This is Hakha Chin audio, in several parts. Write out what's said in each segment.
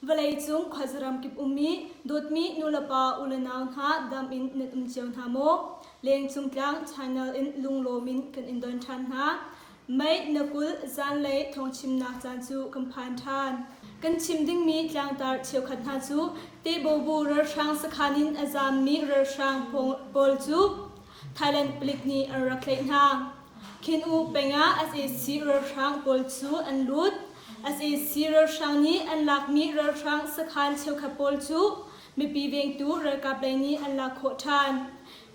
Vawleicung khuazaram kip ummi dawtmi nulepa ulenau hna dam in nan um cio hna maw? Lengcung tlang channel in lunglawm in kan in don ṭhan hna. Mei na kulh zanlei thawngchimnak caan cu kan phan ṭhan. Kan chim dingmi tlangtar cheukhat hna cu Tebaobu ralhrang sakhan in a zaammi ralhrang pawl cu Thailand palik nih an rak tlaih hna. Khin-u peng ah sac ralhrang pawl cu an lut. sac ralhrang nih an lakmi ralhrang sakhan cheukhat pawl cu mipi vengtu ralkap lei nih an lak khawh ṭhan.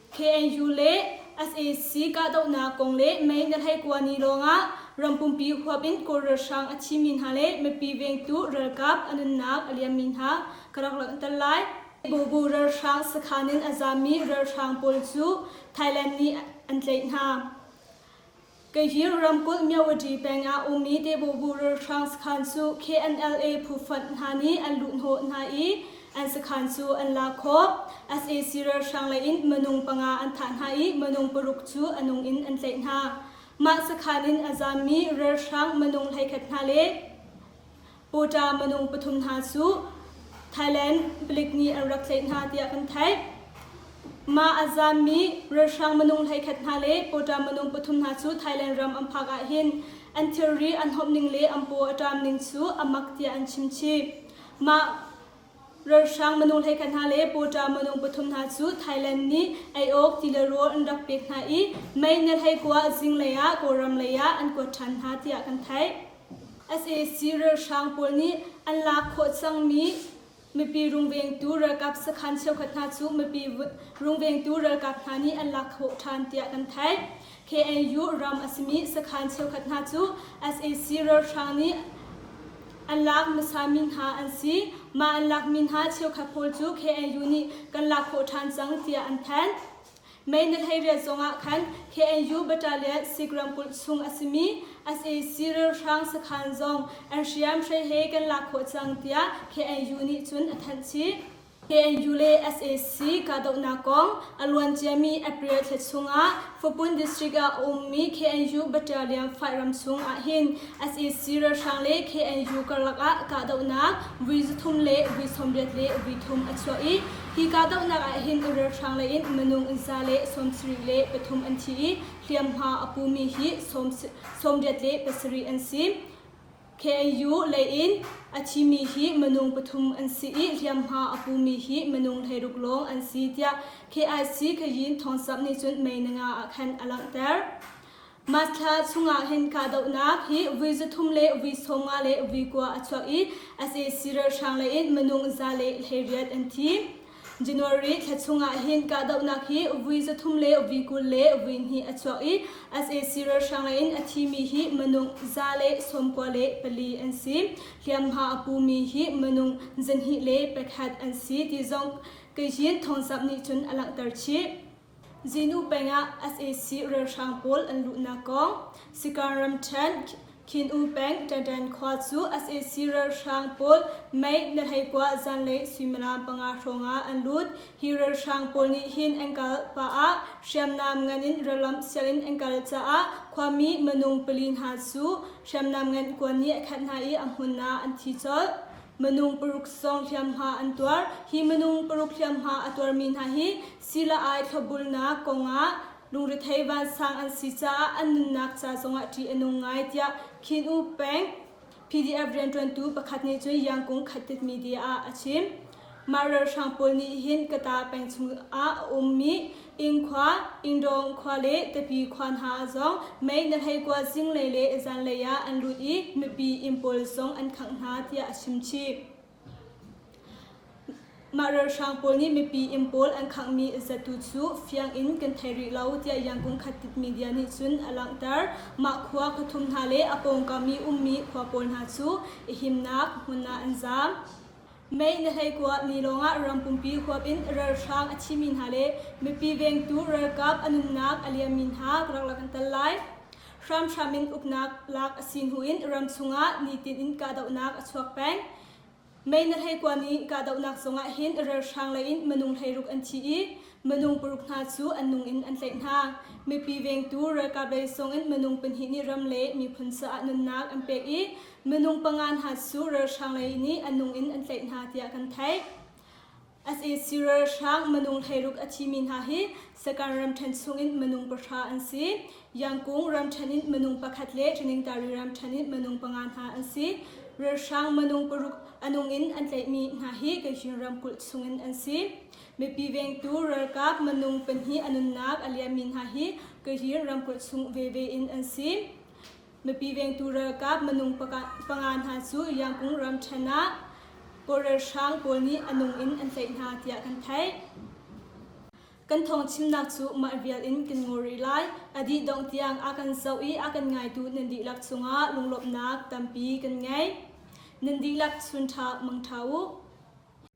KNU le sac kahdohnak kong le May ni hleikua ni lawngah ram pumpi huap in Kawl ralhrang a thimi hna le mipi vengtu ralkap a nunnak a liammi hna ka rak langhter lai. Bobu ralhrang sakhan in a zammi ralhrang pawl cu Thailand nih an tlaih hna. Kaihir ramkulh Myoati peng ah ummi Tebubu ralhrang sakhan cu KNLA phu fund hna nih an luhhnawh hna i an sakhan cu an lak khawh. sac ralhrang lei in minung panga an thah hna i minung paruk cu a nung in an tlaih hna. Mah sakhan in a zammi ralhrang minung hleikhat hna le Pawṭa minung pathum hna cu Thailand palik nih an rak tlaih hna tiah kan theih. Mah a zaammi ralhrang minung hleikhat hna le pawṭa minung pathum hna cu Thailand ram an phak ahhin an thilri an hawmh ning le an paw a ṭam ning cu a mak tiah an chim chih. Mah Ralhrang manu hleikhat hna le pawṭa manu pathum hna cu Thailand nih ei awk ti le rawl an rak pek hna i mei na hleikua zinglei ah Kawlram lei ah an kuat ṭhan hna tiah kan theih. sac ralhrang pawl nih an lak khawh cangmi mipi rungvengtu ralkap sakhan cheukhat hna cu mipi rungvengtu ralkap hna nih an lak khawh ṭhan tiah kan theih. KNU ram a simi sakhaan cheukhat hna cu sac ralhrang nih an lak hmasami hna an si. Mah an lakmi hna cheukhat pawl cu KNU nih kan lak khawh ṭhan cang tiah an phan. Mei na hleiriat zongah khan KNU battalion Sik ramkulh chung a simi sac ralhrang sakhaan zong an hriamhrei he kan lak khawh cang tiah KNU nih cun a thanh chih. KNU le sac kahdohnak kong a luanciami April thla chungah Fapun District ah a ummi KNU Battalion fight ram chung ahhin sac ralhrang le KNU karlak ah kahdohnak vui zathum le vui sawmriat le vui thum a chuah i hi kahdohnak ahhin ralhrang lei in minung za le sawmsarih le pathum an thi i hliamhma a pumi hi sawmriat le pasarih an si. KAU lei in a thimi hi minung pathum an si i hliamhma a pumi hi minung hleiruk lawng an si tiah KIC Khayin Thawng Sap nih cun May Nanga ah khan a langhter. March thla chungah hin kahdohnak hi vui zathum le vui sawmnga le vui kua a chuak i a casi ralhrang lei in minung za le hleiriat an thi. January thla chungah hin kahdohnak hi vui zathum le vui kul le vui hnih a chuak i sac ralhrang lei in a thimi hi manung za le sawmkua le pali an si. Hliamhma a pumi hi manung zanhnih le pakhat an si ti zong Kazhin Thawngsap nih cun a langhter chih. Zinu peng ah sac ralhrang pawl an luhnak kong Sikaung ramṭhen Khin-u peng Ṭaṭan khua cu sac ralhrang pawl mei na hleikua zanlei suimilam panga hrawngah an lut. Hi ralhrang pawl nih hin an kal pah ah hriamnam ngan in ralamh sianginn an kal caah khuami minung pali hna cu hriamnam ngan kuan nih a khat hna i a hmun ah an thi colh. Minung paruk zong hliamhma an tuar. Hi minung paruk hliamhma a tuarmi hna hi Sii-la-ai thlawbulnak kongah lungrethei vansang an si caah an nunnak ca zongah ṭih a nung ngai tiah Khin U Peng PDF rianṭuantu pakhat nih cun Yangkung Khattit Media ah a chim. Mah ralhrang pawl nih hin Kata peng chungah a ummi Ingkhua, Ingdawng khua le Tapi khua hna zong mei na hleikua zinglei le zanlei ah an lut i mipi inn pawl zong an khangh hna tiah a chim chih. Mah ralhrang pawl nih mipi inn pawl an khanghmi zatu cu fiang in kan thei rih lo tiah Yangon Khattit media nih cun a langhter. Mah khua pathum hna le a pawngkam i ummi khua pawl hna cu i himnak hmun ah an zaam. Mei na hlei kuah ni lawngah rampumpi huap in ralhrang a thimi hna le mipi vengtu ralkap a nunnak a liammi hna ka rak la kan tal lai. hramhram in uknak lak a si hnu in ram chungah nitin in kahdohnak a chuak peng. Mei na hleikua nih kahdohnak zongah hin relhrang lei in minung hleiruk an thi i minung paruk hna cu an nung in an tlaih hna. Mipi vengtu ralkap lei song in minung pahnih nih ram le miphun caah nunnak an pek i minung panga hna cu relhrang lei nih an nung in an tlaih hna tiah kan theih. As in ralhrang minung hleiruk a thimi hna hi Sakan ramṭhen chungin minung pahra an si. Yangkung ramṭhen in minung pakhat le Thaningtari ramṭhen in minung panga hna an si. Ralhrang minung paruk a nung in an tlaihmi hna hi Kayin ramkulh chungin an si. Mipi vengtu ralkap minung pahnih a nunnak a liammi hna hi Kayin ramkulh chung veve in an si. Nupi vengtu ralkap minung panga hna cu Yangkung ram ṭhen ah kawlralhrang pawl nih a nung in an tlaih hna tiah kan theih. Kan thawngchimnak cu mah vial in kan ngaw rih lai. A dih dongh tiang a kan zoh i a kan ngaitu nan dihlak cungah lunglawmhnak tampi kan ngei. Nan dihlak chun ṭha mangṭha u.